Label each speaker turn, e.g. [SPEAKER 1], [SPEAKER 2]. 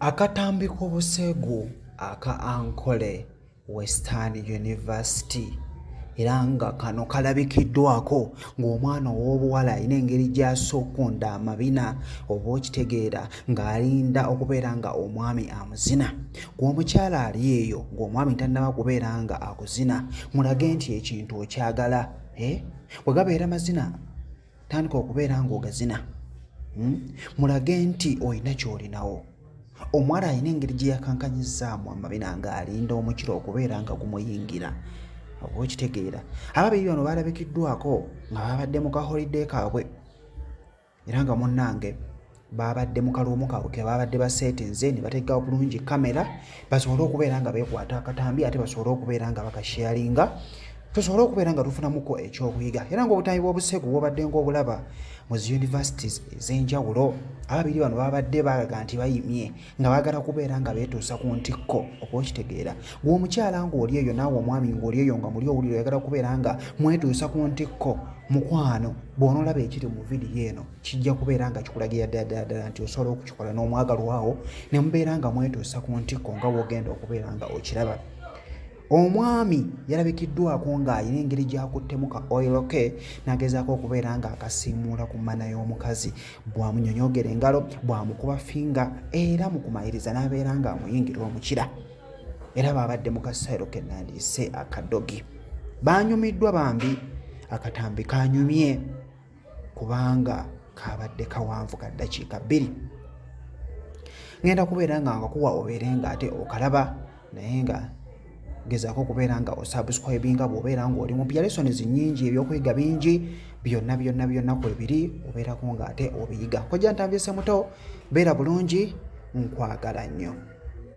[SPEAKER 1] Akatambi k'obuseegu aka Ankole Western University era nga kano kalabikiddwako ng'omwana ow'obuwala alina engeri gy'assa okukunda amabina oba okitegeera ng'alinda okubeera nga omwami amuzina gw'omukyala ali eyo ng'omwami tannaba kubeera nga akuzina mulage nti ekintu okyagala e eh? bwe gabeera mazina tandika okubeera ng'ogazina hmm? mulage nti olina ky'olinawo omuwala alina engeri gye yakankanyizaamu amabina ng'alinda omukiro okubeera nga gumuyingira oba okitegeera ababiri bano baalabikiddwako nga babadde mu kaholiday kaabwe era nga munnange baabadde mu kaloomu kaabwe ke baabadde baseetinze ne bateekawo bulungi kamera basobole okubeera nga beekwata akatambi ate basobole okubeera nga bakasheyaringa tusobole okubeera nga tufunamuko ekyokuyiga era ngaobutambi bw'obusegu bwobadde ngaobulaba mu zi universities ez'enjawulo ababiri bano babadde balaga nti bayimye nga bagala kubeera nga beetuusa ku ntikko oba okitegeera gweomukyala ngaoli eyo naawe omwami ngaoli eyo nga muli owulire oyagala kubeera nga mwetuusa ku ntikko mukwano bw'onoolaba ekiri mu vidiyo eno kijja kubeera nga kikulagira ddala nti osobola okukikola n'omwagalwawo ne mubeera nga mwetuusa ku ntikko nga wogenda okubeera nga okiraba omwami yalabikiddwako ng'alina engeri gyakuttemu ka oil ke nagezaako okubeera ng'akasiimuula ku mana y'omukazi bwamunyonyogera engalo bwamukuba finga era mu kumaliriza n'abeera ng'amuyingira omukira era baabadde mu kasairo ke nandiise akadogi baanyumiddwa bambi akatambi kanyumye kubanga kabadde kawanvu ka ddakiika bbiri ŋenda kubeera nga ngakuwa obeere nga ate okalaba naye nga gezaako okubeera nga osubscribinga bwobeera ngaoli mupya lessons nyingi ebyokuyiga bingi byonna byonna byonna kwebiri obeerako nga ate obiyiga kojja ntambyese muto beera bulungi nkwagala nnyo